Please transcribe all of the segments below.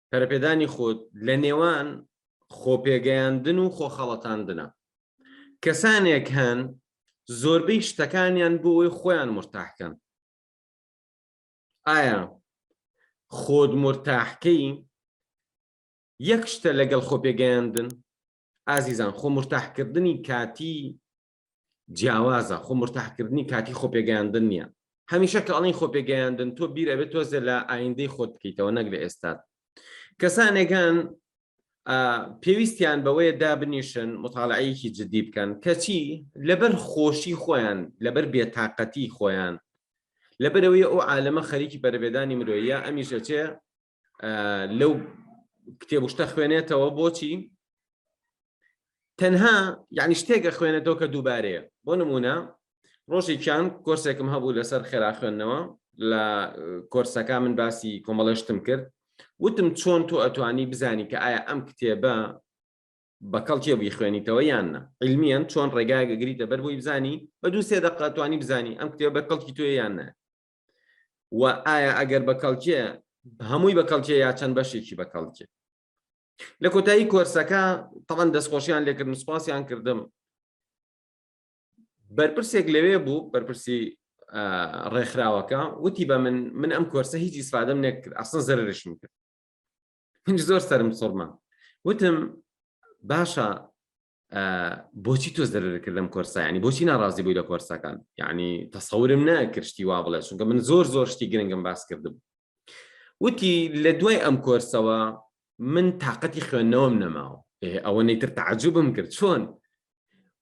پەرەپێدانی خۆت لە نێوان خۆپێگەیاندن و خۆخەڵەتاندنە کەسانێک هەن زۆربەی شتەکانیان بۆ ئەوی خۆیان مرتاحکەن ئایا خۆت مرتاحکەی یەک شتە لەگەڵ خۆپێگەیاندن ئازیزان خۆ مرتاحکردنی کاتی جیاوازە خۆ مرتاحکردنی کاتی خۆپێگەیاندن نییە هەمیشە کە ئەڵین خۆپێگەیاندن تۆ بیر ئەبێت تۆزێ لە ئایندەی خۆت بکەیتەوە نەک لە ئێستات کەسانێکان پێویستیان بەوەیە دابنیشن مطالعەیەکی جدی بکەن کەچی لەبەر خۆشی خۆیان لەبەر بێتاقەتی خۆیان لەبەرەوەی ئەو عالەمە خەریکی بەرەبێدانی مرۆیە ئەمیشەچێ لەو کتێبشتە خوێنێتەوە بۆچی تەنها یعنی شتێکە خوێنێتەوە کە دووبارەیە بۆ نمونە ڕۆژێکیان کۆرسێکم هەبوو لەسەر خێرا خوێندنەوە لە کۆرسەکە من باسی کۆمەڵێشتم کرد وتم چۆن تۆ ئەتوانی بزانی کە ئایا ئەم کتێبە بە کەڵکێ بووی خوێنیتەوە یان نە علمیان چۆن ڕێگایگەگریتە بەر بووی بزانی بە دوو سێ دەقەتوانی بزانی ئەم کتێبە بە کەڵکی توێ یان نە و ئایا ئەگەر بە کەڵکێ هەمووی بە کەڵکێ یا چەند بەشێکی بە کەڵکێ لە کۆتایی کۆرسەکە تەوان دەستخۆشیان لێکردن سوپاسیان کردم بەرپرسێک لەوێ بوو بەرپرسی ڕێکخراوەکە وتی بە من من ئەم کۆرسە هیچ ئیسفادەم نەکرد ئەسن زەرشم کرد هیچ زۆر سرم سڕمە وتم باشە بۆچی تۆ زەرەرکرد لەم کۆرسە ینی بۆچی ناڕازی بووی لە کۆرسەکان یعنی تەسەورم نەکرشتی وا بڵێ چونکە من زۆر زۆر شتی گرنگم باس کردم وتی لە دوای ئەم کۆرسەوە من تااقەتی خوێندنەوەم نەماوە ئەوە نەیتر تعجبم کرد چۆن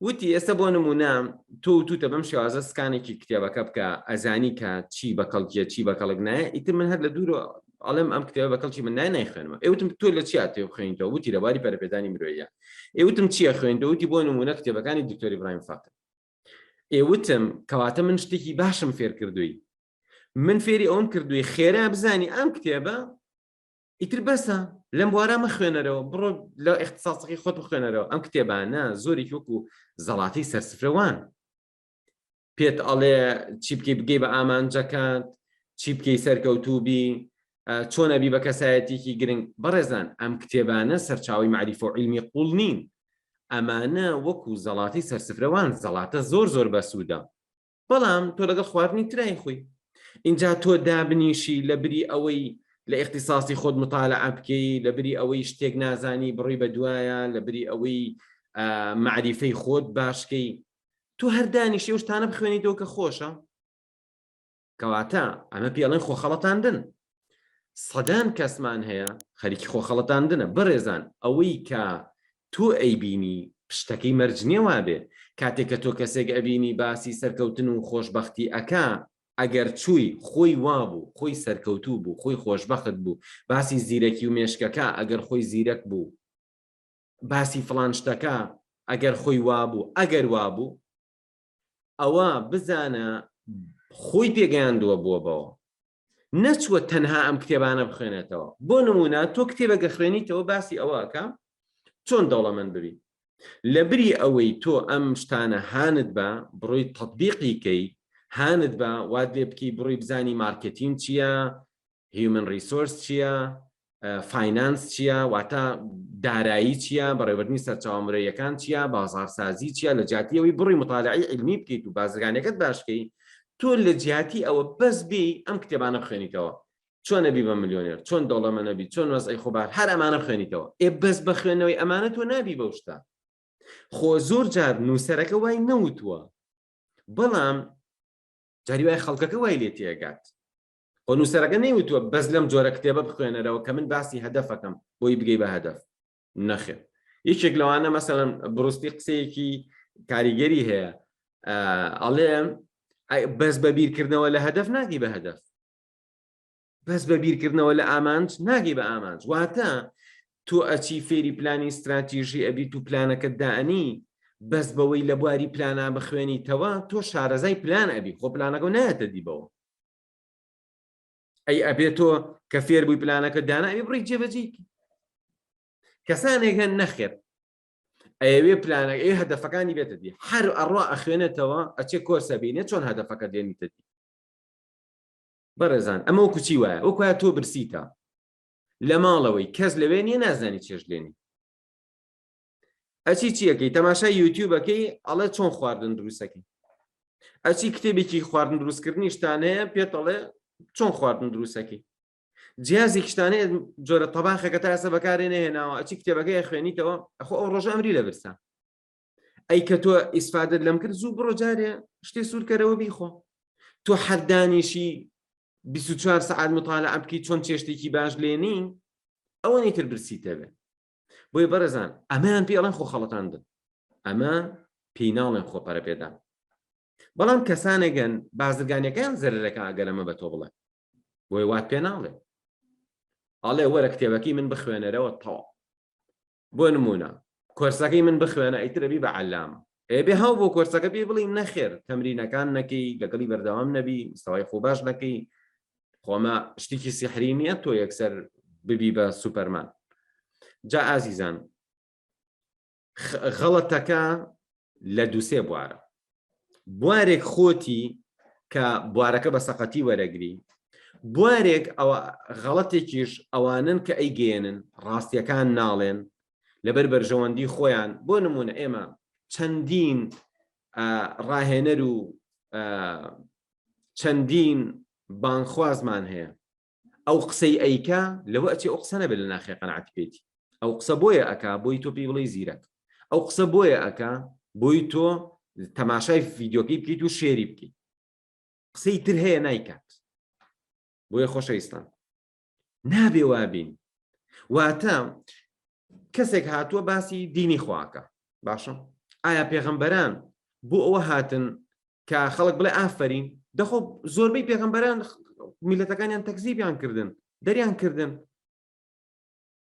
وتی ئێستا بۆ نمونە تۆ توتە بەم شێوازە سکانێکی کتێبەکە بکە ئەزانی کە چی بە کەڵکیە چی بە کەڵک نایە ئیتر من هەر لە دوور ئەڵێم ئەم کتێبە بە کەڵکی من نای نایخوێنمە ئێوتم تۆ لە چیا تێ بخوێنیتەوە وتی لەباری پەرپێدانی مرۆیە ئێوتم چیە خوێنیتەوە وتی بۆ نمونە کتێبەکانی دکتۆری برایم فاکن ئێوتم کەواتە من شتێکی باشم فێر کردووی من فێری ئەوم کردووی خێرا بزانی ئەم کتێبە ئیتر بەسە لەم بوارە مە خوێنەرەوە بڕۆ لە اختصاصەکەی خۆت بخوێنەرەوە ئەم کتێبانە زۆرێکی وەکو زەڵاتی سەرسفرەوان پێت ئەڵێ چی بکەی بگەی بە ئامانجەکانت چی بکەی سەرکەوتوبی چۆنەبی بە کەسایەتێکی گرنگ بەڕێزان ئەم کتێبانە سەرچاوی معریف و علمی قوڵ نین ئەمانە وەکو زەڵاتی سەرسفرەوان زەڵاتە زۆر زۆر بەسوودە بەڵام تۆ لەگەڵ خواردنی ترای خۆی اینجا تۆ دابنیشی لە بری ئەوەی لە اختصاصی خۆت مطالع بکەی لە بری ئەوەی شتێک نازانی بڕی بە دوایە لە بری ئەوەی معریفەی خۆت باشکەی تۆ هەر دانیشی ئەو شتانە بخوێنیتەوە کە خۆشە کەواتە ئەمە پێڵێن خۆخەڵەتاندن سەدان کەسمان هەیە خەریکی خۆخەڵەتاندنە بەڕێزان ئەوەی کە تۆ ئەیبینی پشتەکەی مەرجنیە وابێ کاتێک کە تۆ کەسێک ئەبینی باسی سەرکەوتن و خۆشببختی ئەکا ئەگەر چووی خۆی وابوو خۆی سەرکەوتوو بوو خۆی خۆشببخت بوو باسی زیرەکی و مێشکەکە ئەگەر خۆی زیرەک بوو باسی فڵان شتەکە ئەگەر خۆی وابوو ئەگەر وابوو ئەوە بزانە خۆی پێگەیاندووە بووە بەوە نەچووە تەنها ئەم کتێبانە بخوێنێتەوە بۆ نمونە تۆ کتێبەگە خوێنیتەوە باسی ئەوەکە چۆن دەوڵەمەند ببی لە بری ئەوەی تۆ ئەم شتانە هاند بە بڕۆی تطببیقیکەی هاند بە واد لێ بکەی بڕی بزانی مارکتین چییە هیومن ریسۆرس چییە فینانس چییە واتە دارایی چییە بەڕێوەردنی سەرچاو مرەیەکان چییە بازارسازی چییە لە جاتیەوەی بڕی مطالعی علمی بکەیت و بازرگانەکەت باشکەی تۆ لە جیاتی ئەوە بەس بی ئەم کتێبانە بخوێنیتەوە چۆن نەبی بە ملیۆنێر چۆن دەوڵەمە نەبی چۆن وەزعی خۆبار هەر ئەمانە بخوێنیتەوە ئێ بەس بە خوێنەوەی ئەمانە تۆ نابی بەو شتا خۆ زۆر جار نووسەرەکە وای نەوتووە بەڵام جاری وای خەڵکەکە وای لێ تێگات خۆ نووسەرەکە نەیوتووە بەس لەم جۆرە کتێبە بخوێنەرەوە کە من باسی هەدەفەکەم بۆی بگەی بە هەدەف نەخێر یەکێک لەوانە مەسەلەن بڕستی قسەیەکی کاریگەری هەیە ئەڵێم بەس بە بیرکردنەوە لە هەدەف ناگی بە هەدەف بەس بە بیرکردنەوە لە ئامانج ناگی بە ئامانج واتە تۆ ئەچی فێری پلانی استراتیژی ئەبیت و پلانەکە دانی بەس بەوەی لە بواری پلانە بخوێنیتەوە تۆ شارەزای پلان ئەبی خۆ پلانەکە نایەتە دیبەوە ئەی ئەبێ تۆ کە فێر بووی پلانەکە دانا ئەوی بڕی جێبەجی کەسانێک هەن نەخێر ئەوێ پلانە ئێ هەدەفەکانی بێتە دی هەر ئەڕوا ئەخوێنێتەوە ئەچێ کۆرسە بینێ چۆن هەدەفەکە دێنیتە دی بەڕێزان ئەمە و کوچی وایە ئەو کوە تۆ برسیتە لە ماڵەوەی کەس لەوێ نیە نازانی چێش لێنی ئەچی چیەکەی تەماشای یوتیوبەکەی ئەڵێ چۆن خواردن دروستەکەی ئەچی کتێبێکی خواردن دروستکردنیشتانەیە پێتەڵێ چۆن خواردن دروستەکەی جیازی کشتانەیە جۆرە تەباخەکە تا ئێستا بەکارێ نێناوە ئەچی کتێبەکەی خوێنیتەوە ئەخۆ ئەو ڕۆژە ئەمری لە برسان ئەی کە تۆ ئیسفادت لەم کرد زوو بڕۆ جارێ شتێ سوورکەرەوە بیخۆ تۆ حەردانیشی 24 سعات مطالعە بکەی چۆن چێشتێکی باش لێنین ئەوە نیتر برسیتەبێ بۆیە بەڕێزان ئەمەیان پێڵێن خۆ خەڵەتاندن ئەمە پێی ناڵێن خۆ پەرە پێدان بەڵام کەسانێکگەن بازرگانەکان زەرەکە ئەگەرەمە بە تۆ بڵێ بۆی وات پێ ناڵێ ئاڵێ وەرە کتێبەکەی من بخوێنەرەوە تەوا بۆ نمونە کۆرسەکەی من بخوێنە ئیترەبی بە عەلامە ئەبێ هەو بۆ کۆرسەکە پێی بڵین نەخێر تەمرینەکان نەکەی لەگەڵی بەردەوام نەبی مستەوای خۆ باش نەکەی خۆمە شتێکی سیحری نییە تۆ یەکسەر ببی بە سوپەرمان جا ئازیزان غەڵەتەکە لە دووسێ بوارە بوارێک خۆتی کە بوارەکە بە سەقەتی وەرەگری بوارێک ئەوە غەڵەتێکیش ئەوانن کە ئەیگەێنن ڕاستیەکان ناڵێن لەبەر بەرژەوەندی خۆیان بۆ نمونە ئێمە چەندین ڕاهێنەر و چەندین بانخوازمان هەیە ئەو قسەی ئەیکا لەوە ئەچێ ئەو قسەنە بێت لە ناخێ قەنعات پێیتی ئەو قسە بۆیە ئەک بۆی تۆ پێی بڵی زیرەک ئەو قسە بۆیە ئەک بۆی تۆ تەماشای ڤیددیوکەی بکەیت و شێری بکەیت قسەی تر هەیە نایکات بۆیە خۆشەویستان نابێ وابین واتە کەسێک هاتووە باسی دینی خواکە باشە ئایا پێغەمبەران بۆ ئەوە هاتن کە خەڵک بڵێ ئافرین دەخۆ زۆربەی پێغەمبەران میلەتەکانیان تەکزیبیان کردن دەریان کردن